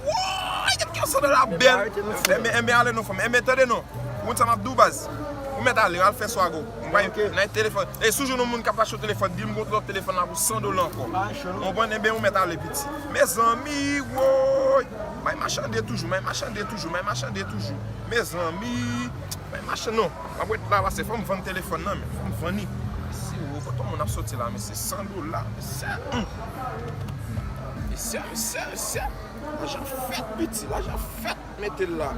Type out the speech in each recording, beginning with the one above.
Wooyy get gen san de la bel. Enben ale non fanm. Enben tande non. Ou konn sa map diw baz. Ou met ale al fe swago. Ou pa gen nan telefon. E sou jou nou moun kap achew telefon dil m gon lot telefon la pou 100 dola anko. Ou konprann enben ou met ale piti. Mezanmi wooyy. May machande toujou may machande toujou may machande toujou. Mezanmi may machande non. Map ret la pase fom vann telefon nan men. Fom vann li. Mesi woo kote moun ap soti la mesye 100 dola mesye. Mesye, mesye, mesye. Lajan fèt piti, lajan fèt. Mete l la.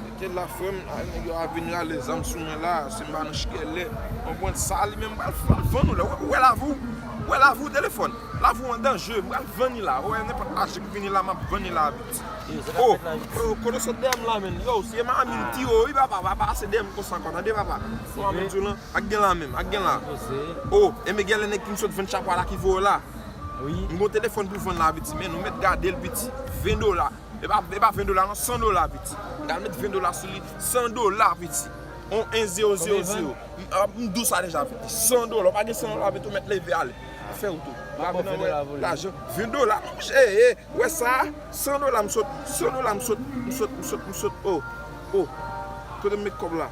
Mete l la frè m. A nèg yo ap vin rale zam sou mwen la. Si m ba nou chkèlè. Konprann sa li menm pral fè. L vann ou la. Ou wè lavou. Ou wè lavou telefòn. Lavou an danje. M pral vann li la. Ou wè nenpòt lajan ki vini la m ap vann li la vit. O! O! Kote w sot dèyè m la menm. Yow se manmi m ti ou wi papa. Papa pase dèyè m konsa ankò tande papa. Manmi m di w lan. A k gen la menm, a k gen la. O, enben gen lè nèg ki m sot vann chapo a la ki voye w la. M gon telefòn pou vann la piti men nou mèt gade l piti. 20 dola. E pa 20 dola non, 100 dola piti. M ta met 20 dola sou li. 100 dola piti. On 1 zero zero zero. M di w sa deja piti. 100 dola. Ou pa gen 100 dola piti ou mèt leve ale. Fè wout ou. M ap vin nan wè lajan. 20 dola. Monchè e, ou wè sa a? 100 dola m sot, 100 dola m sot, m sot, m sot, m sot. O, o. Kote m met kòb la?